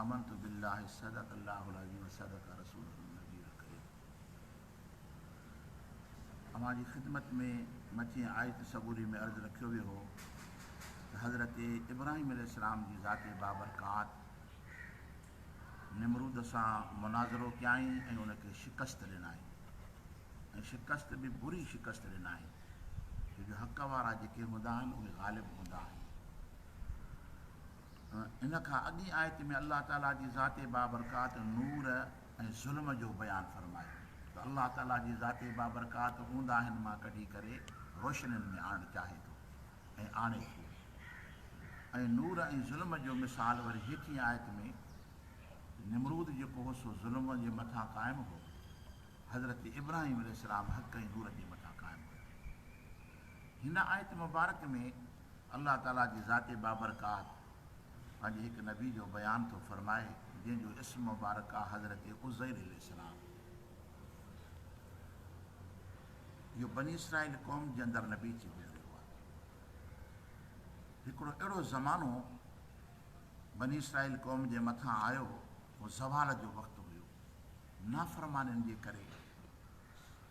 آمنت بالله صدق الله العظيم وصدق رسوله النبي الڪريم اوهان جي خدمت ۾ مٿين آيت صبوري ۾ عرض رکيو ويو هو ته حضرت ابراهيم عليه السلام جي ذات بابرڪات نمرود سان مناظرو ڪيائين ۽ ان کي شڪست ڏنائين ۽ شڪست به بري شڪست ڏنائين ڇو جو حق وارا جيڪي هوندا آهن اهي غالب هوندا آهن ان کان اڳين آيت ۾ الله تعالي جي ذات بابرڪات نور ۽ ظلم جو بيان فرمايو ته الله تعالي جي ذات بابرڪات اونداهين مان ڪڍي ڪري روشنين ۾ آڻڻ چاهي ٿو ۽ آڻي ٿو ۽ نور ۽ ظلم جو مثال وري هيٺين آيت ۾ نمرود جيڪو هو سو ظلم جي مٿان قائم هو حضرت ابراهيم عليه السلام حق ۽ نور جي مٿان قائم هيا هن آيت مبارڪ ۾ الله تعاليٰ جي ذات بابرڪات پنهنجي هڪ نبي جو بيان ٿو فرمائي جنهن جو اسم مبارڪ آهي حضرت عزير عليه السلام. اهو بني اسرائيل قوم جي اندر نبي ٿي گذريو آهي. هڪڙو اهڙو زمانو بني اسرائيل قوم جي مٿان آيو هو، اهو زوال جو وقت هيو، نافرمانين جي ڪري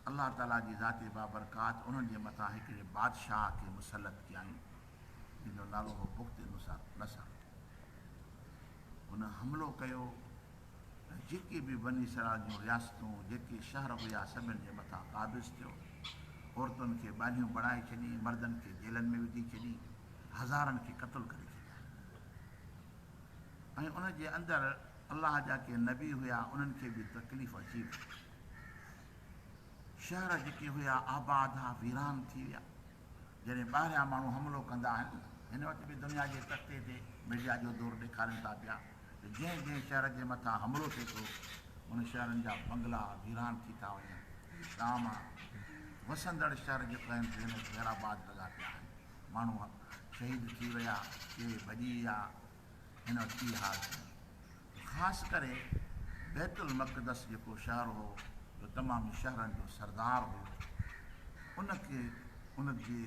الله تعاليٰ جي ذات بابرڪات انهن جي مٿان هڪڙي بادشاهه کي مسلط ڪيائين، جنهن جو نالو هو بخت نصر. هن حملو ڪيو ۽ جيڪي به بني اسرائيل جون رياستون، جيڪي شهر هيا، سڀن جي مٿان قابض ٿيو. عورتن کي ٻانهيون بڻائي ڇڏيائين، مردن کي جيلن ۾ وجهي ڇڏيائين، هزارن کي قتل ڪري ڇڏيائين ۽ ان جي اندر الله جا ڪي نبي هيا، انهن کي به تڪليف اچي وئي. شهر جيڪي هيا آباد ها ويران ٿي ويا. جڏهن ٻاهريان ماڻهو حملو ڪندا آهن، هن وقت به دنيا جي تختي تي ميڊيا جو زور ڏيکارين ٿا پيا ته جنهن جنهن شهر جي مٿان حملو ٿئي ٿو ان شهرن جا بنگلا ويران ٿي ٿا وڃن ٽام وسندڙ شهر جيڪو آهن سي ۾ خيرآباد لڳا پيا آهن ماڻهو شهيد ٿي ويا ڪي ڀڄي ويا هن وٽ اهي حال ٿين ته خاص ڪري بيت المقدس جيڪو شهر هو جو تمامي شهرن جو سردار هيو ان کي ان جي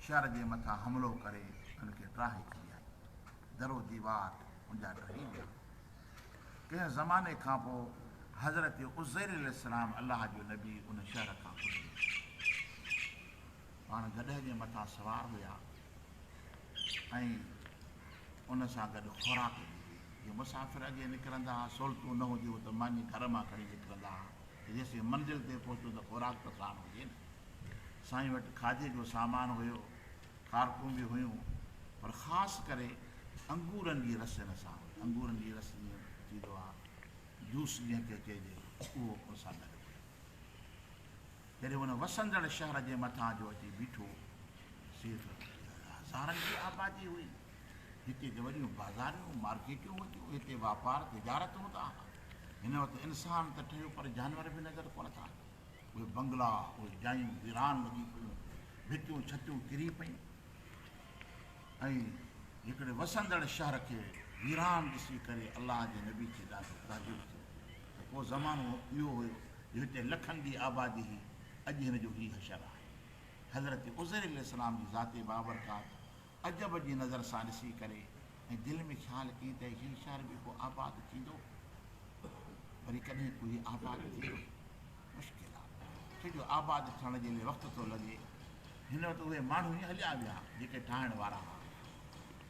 شهر جي مٿان حملو ڪري ان کي ٽاهي ڇڏيائين درو ديوار ان جا ٽهي ويا ڪنهن زماني کان پوء حضرت عزير عليه السلام الله جو نبي ان شهر کان گذري پاڻ گڏهه جي مٿان سوار هيا ۽ ان سان گڏ خوراڪ به هئي. جي مسافر اڳي نڪرندا ها، سهولتون نه هونديون ته ماني گهر مان کڻي نڪرندا ها ته جيسين منزل تي پهچون ته خوراڪ ته ساڻ هجي نه. سائين وٽ کاڌي جو سامان هيو، کارڪون به هيون پر خاص ڪري انگورن جي رس ان سان هئي. انگورن جي رس جيئن ٿيندو آهي جوس جنهن کي چئجي ٿو اهو ان سان گڏ هيو. جڏهن هن وسندڙ شهر جي مٿان جو اچي بيٺو، سي ته هزارن جي آبادي هئي. هتي ته وڏيون بازاريون، مارڪيٽون هونديون، هتي واپار، تجارت هوندا ها. هن وٽ انسان ته ٺهيو پر جانور به نظر ڪونه ٿا اچن. اهي بنگلا، اهي جايون ويران لڳي پيون، ڀتيون ڇتيون ڪري پيون ۽ هڪڙي وسندڙ شهر کي ويران ڏسي ڪري الله جي نبي کي ڏاڍو تعجب ٿيو. اهو زمانو اهو هيو جو هتي لکن جي آبادي هئي، اڄ هن جو هي حشر آهي. حضرت عزير عليه السلام جي ذات بابرڪات عجب جي نظر سان ڏسي ڪري ۽ دل ۾ خيال ڪئي ته هي شهر به ڪو آباد ٿيندو؟ وري ڪڏهن ڪو هي آباد ٿيندو؟ مشڪل آ، ڇو جو آباد ٿيڻ جي لئي وقت ٿو لڳي. هن وقت اهي ماڻهو ئي هليا ويا جيڪي ٺاهڻ وارا ها.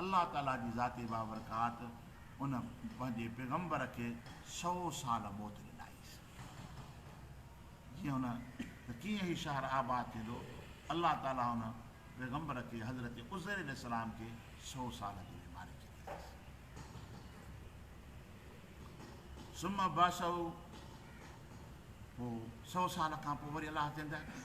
الله تعاليٰ جي ذات بابرڪات ان پنهنجي پيغمبر کي سؤ سال موت ڏنائينس جيئن هن ته ڪيئن هي شهر آباد ٿيندو الله تعاليٰ ان پيغمبر کي حضرت عزير عليه السلام کي سؤ سال جي بيماري ڇڏينس ثم بعثه پوء سؤ سال کان پوء وري الله زنده ڪيو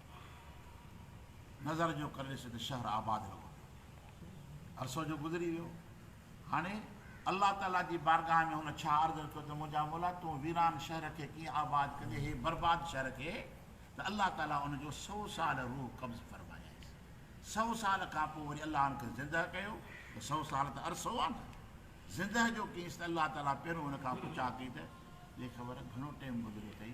نظر جو ڪري ڏسي ته شهر آباد لڳو پيو ٿئي. عرصو جو گذري ويو. هاڻي الله تعاليٰ جي بارگاهه ۾ هن ڇا عرض رکيو ته منهنجا مولا تون ويران شهر کي ڪيئن آباد ڪندي هي برباد شهر کي ته الله تعاليٰ ان جو سؤ سال روح قبض فرمايائينس. سؤ سال کان پوء وري الله ان کي زندهه ڪيو ته سؤ سال ته عرصو آ نه. زندهه جو ڪيس ته الله تعاليٰ پهريون ان کان پڇا ڪئي ته ليکور گهڻو ٽيم گذريو ٿئي؟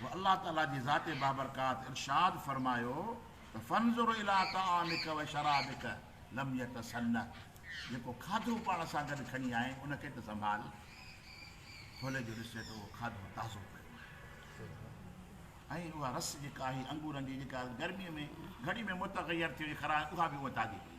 پوء الله تعالي جي ذات بابرڪات ارشاد فرمايو ته فانظر الي طعامک وشرابک لم يتسنه جيڪو کاڌو پاڻ سان گڏ کڻي آئين ان کي ته سنڀال کولي جو ڏسجي ته اهو کاڌو تازو پيو ۽ اها رس جيڪا آهي انگورن جي جيڪا گرمي ۾ گهڙي ۾ متغير ٿي وئي خراب اها به اها تازي پئي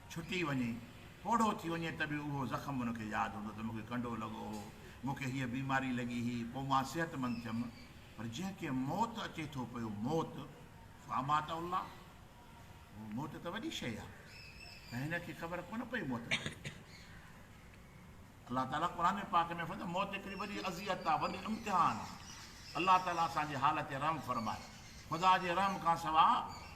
ڇٽي وڃي، پوڙهو ٿي وڃي ته به اهو زخم ان کي ياد هوندو ته مون کي ڪنڊو لڳو هو، مون کي هيء بيماري لڳي هئي، پوء مان صحتمند ٿيم. پر جنهن کي موت اچي ٿو پيو، موت، فاماته الله، اهو موت ته وڏي شيء آهي ۽ هن کي خبر ڪونه پئي موت ڪهڙي آهي. الله تعاليٰ قرآن پاڪ ۾ فرمائي ٿو ته موت هڪڙي وڏي اذيت آهي، وڏي امتحان آهي. الله تعاليٰ اسان جي حال تي رحم فرمائي. خدا جي رحم کان سوا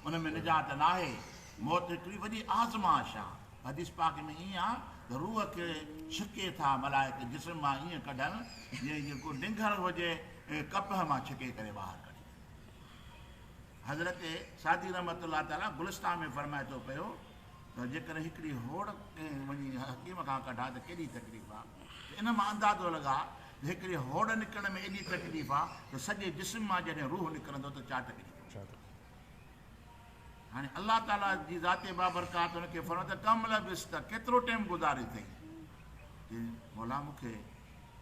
ان ۾ نجات ناهي. موت هڪڙي وڏي آزمائش آهي. حديث پاڪ ۾ ائين آهي ته روح کي ڇڪي ٿا ملائڪ جسم مان ائين ڪڍن جيئن جيڪو ڊنگر هجي ڪپهه مان ڇڪي ڪري ٻاهر ڪڍي ڇڏي. حضرت سعدي رحمة الله تعاليٰ گلستان ۾ فرمائي ٿو پيو. ته جيڪڏهن هڪڙي هوڙ ڪنهن وڃي حڪيم کان ڪڍان ته ڪيڏي تڪليف آ ته ان مان اندازو لڳاء ته هڪڙي هوڙ نڪرڻ ۾ ايڏي تڪليف آ ته سڄي جسم مان جڏهن روح نڪرندو ته ڇا تڪليف هوندي. هاڻي الله تعاليٰ جي ذات بابرڪات ان کي فرمايو ته ڪم لبثت ڪيترو ٽيم گذاري اٿئي؟ چي مولا مون کي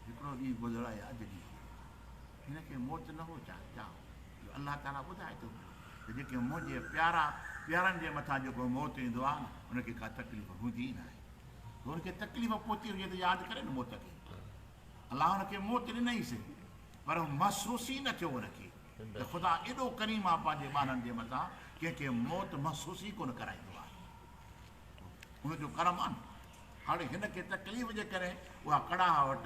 هڪڙو ڏينهن گذرايا جڏهن هن کي موت نه هو چاهي چاهو. جو الله تعاليٰ ٻڌائي ٿو پيو ته جيڪي منهنجي پيارا پيارن جي مٿان جيڪو موت ايندو آهي نه ان کي ڪا تڪليف هوندي ئي ناهي جو ان کي تڪليف پهتي هجي ته ياد ڪري نه موت کي الله ان کي موت ڏنئيس پر محسوس ئي نه ٿيو ان کي ته خدا ايڏو ڪريم آهي پنهنجي ٻارن جي مٿان ڪنهن کي موت محسوس ئي ڪونه ڪرائيندو آهي ان جو ڪرم آهي هاڻي هن کي تڪليف جي ڪري اها ڪڙاهه وٽ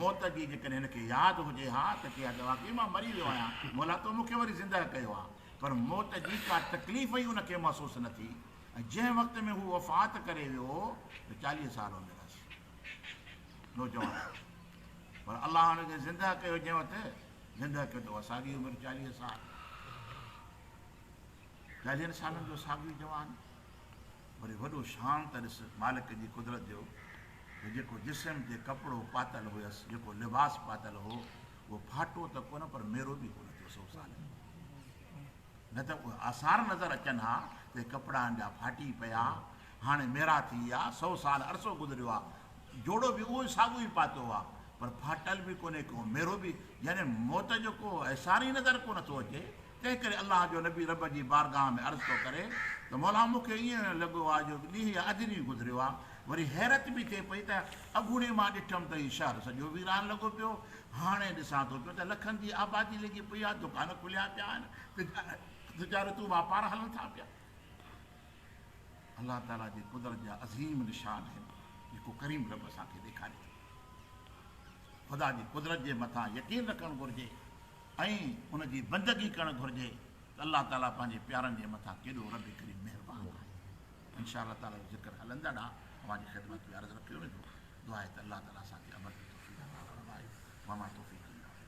موت جي جيڪڏهن هن کي ياد هجي ها ته ڪي ها ته واقعي مان مري ويو آهيان مولا تو مون کي وري زنده ڪيو آهي پر موت جي ڪا تڪليف ئي ان کي محسوس نه ٿي ۽ جنهن وقت ۾ هو وفات ڪري ويو ته چاليهه سال هوندي رهس نوجوان پر الله هن کي زنده ڪيو جنهن وقت زنده ڪيو ته اها ساڳي عمر چاليهه سال چاليهن سالن جو ساڳيو جوان وري وڏو شان ته ڏس مالڪ جي قدرت جو ته جيڪو جسم تي ڪپڙو پاتل هيس جيڪو لباس پاتل هو اهو ڦاٽو ته ڪونه پر ميرو به ڪونه ٿيو سو سال نه ته اهي آثار نظر اچن ها ته ڪپڙان جا ڦاٽي پيا هاڻي ميرا ٿي ويا سو سال عرصو گذريو آهي جوڙو به اهو ساڳو ئي پاتو آهي پر ڦاٽل به ڪونهي ڪو ميرو به يعني موت جو ڪو احسار ئي نظر ڪونه ٿو اچي تنهن ڪري الله جو نبي رب جي بارگاهه ۾ عرض ٿو ڪري ته مولا مون کي ائين لڳو آهي جو ڏينهن يا اڄ ڏينهن گذريو آهي وري حيرت به ٿئي پئي ته اڳوڻي مان ڏٺم ته هي شهر سڄو ويران لڳو پيو هاڻي ڏسان ٿو پيو ته لکن جي آبادي لڳي پئي آهي دڪان کليا پيا آهن تجارتون واپار هلن ٿا پيا الله تعالي جي قدرت جا عظيم نشان آهن جيڪو ڪريم رب اسان کي ڏيکاري ٿو خدا جي قدرت جي مٿان يقين رکڻ گهرجي ۽ ان جي بندگي ڪرڻ گهرجي ته الله تعالي پنهنجي پيارن جي مٿان ڪيڏو رب ڪريم مهربان آهي ان شاء الله تعالي جو ذڪر هلندڙ آهي اوهان جي خدمت ۾ عرض رکيو ويندو دعا آهي ته الله تعالي اسان کي عمل جي توفيق عطا فرمائي وما توفيقي الا بالله